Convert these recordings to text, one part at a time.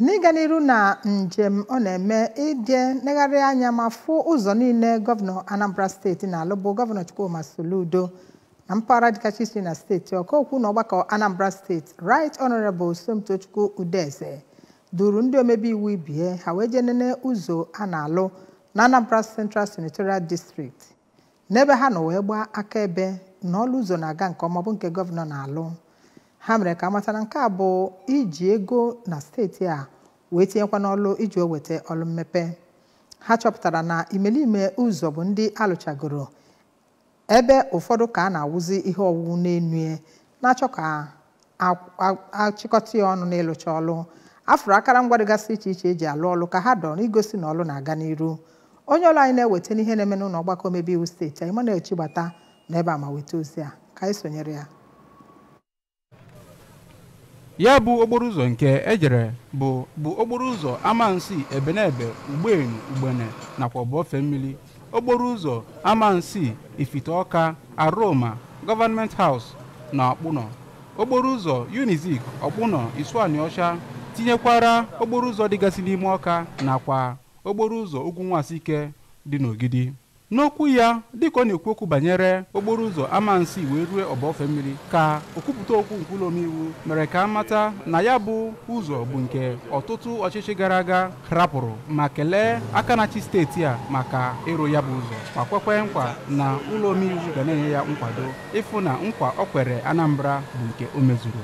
n'ịga n'iru na njem ọ na-eme ije negharị anya ma fụ ụzọ niile gọvanọ anambra steeti na-alụ bụ gọvanọ chukwuma soludo na mpaghara dịga iche iche na steeti ọka okwu na ọgbakọ anambra steeti right honorable somtochukwu udeze duru ndị omebe iwu ibe ya ha wee jee nene ụzọ a na-alụ na anambra central senatorial district n'ebe ha nọ wee gbaa akaebe na ọlụ ụzọ na-aga nke ọma bụ nke gọvanọ na-alụ ha mere ka amata na nke a bụ iji ego na steeti a wee tinyekwa n'ọlụ iji wee weta ọlụ mmepe ha chọpụtara na imelime ụzọ bụ ndị alụchagoro ebe ụfọdụ ka a na-awụzi ihe ọwụwụ n'enu na-achọ ka a- a- achịkọta ya ọnụ n'ịlụcha ọlụ afụrụ akara ngwa dịgasị iche iche eji alụ ọlụ ka ha dọrọ igosi na ọlụ na-aga n'iru onye ọlụ anyị na-eweta n'ihe na-eme n'ụlọ ọgbakọ omebe iwu steeti a emmanuel chigbata nọ ebe a ma weta ozi a ka anyị sonyere ya ya bụ okporo ụzọ nke ejere bụ bụ okporo ụzọ amansi ebenebe ugbenu ugbene nakwa ọba ofemili okporo ụzọ amansi ifite ọka aroma government house na ọkpụnọ okporo ụzọ unizik ọkpụnọ isuanịọcha tinyekwara okporo ụzọ dịgasị n'ime ọka nakwa okporo ụzọ ugwu nwasike dị n'ogidi n'okwu ya dịka ọ na-ekwu okwu banyere okporo ụzọ amansi wee rue ọba ofemili ka okwupụta okwu nke ụlọ omeiwu mere ka a mata na ya bụ ụzọ bụ nke ọtụtụ ọchịchị gara aga rapụrụ ma kelee aka na-achị steeti a maka ịrụ ya bụ ụzọ ma kwekwe nkwa na ụlọ omeiwu ga na-enye ya nkwado ịfụ na nkwa o kwere Anambra bụ nke o mezuru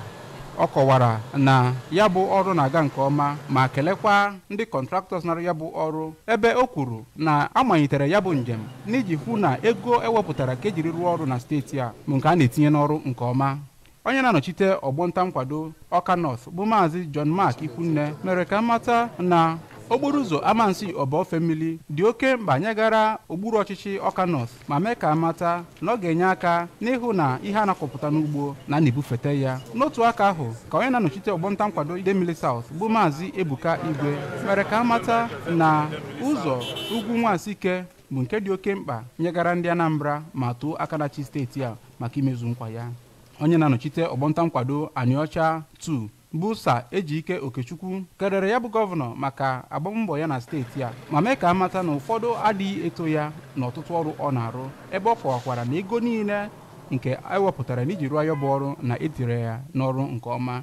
ọ kọwara na ya bụ ọrụ na-aga nke ọma ma kelekwa ndị contractors na-arụ ya bụ ọrụ ebe o kwuru na a malitere ya bụ njem n'iji hụ na ego ewepụtara ka ejiri rụọ ọrụ na steeti a bụ nke a na-etinye n'ọrụ nke ọma onye na-anọchite ọgbọ nta nkwado ọka north bụ maazị john mark ikwunne mere ka a mata na okporo ụzọ amansi ọba ofemili dị oke mkpa nyegara okpuru ọchịchị ọka north ma mee ka amata na ọ ga-enye aka n'ịhụ na ihe a na-akọpụta n'ugbo na a na-ebufete ya n'otu aka ahụ ka onye na-anọchite ọgbọ nta nkwado idemili south bụ maazị ebuka igwe mere ka amata na ụzọ ugwu nwasike bụ nke dị oke mkpa nyegara ndị Anambra ma too aka na-achị steeti a maka imezu nkwa ya onye na-anọchite ọgbọnta nkwado Anịọcha 2 bụ Sir Ejike Okechukwu kelere ya bụ gọvanọ maka agbambọ ya na steeti a ma mee ka a mata na ụfọdụ adịghị eto ya n'ọtụtụ ọrụ ọ na-arụ ebe ọ kọwakwara na ego niile nke ewepụtara n'iji rụọ ya bụ ọrụ na etire ya n'ọrụ nke ọma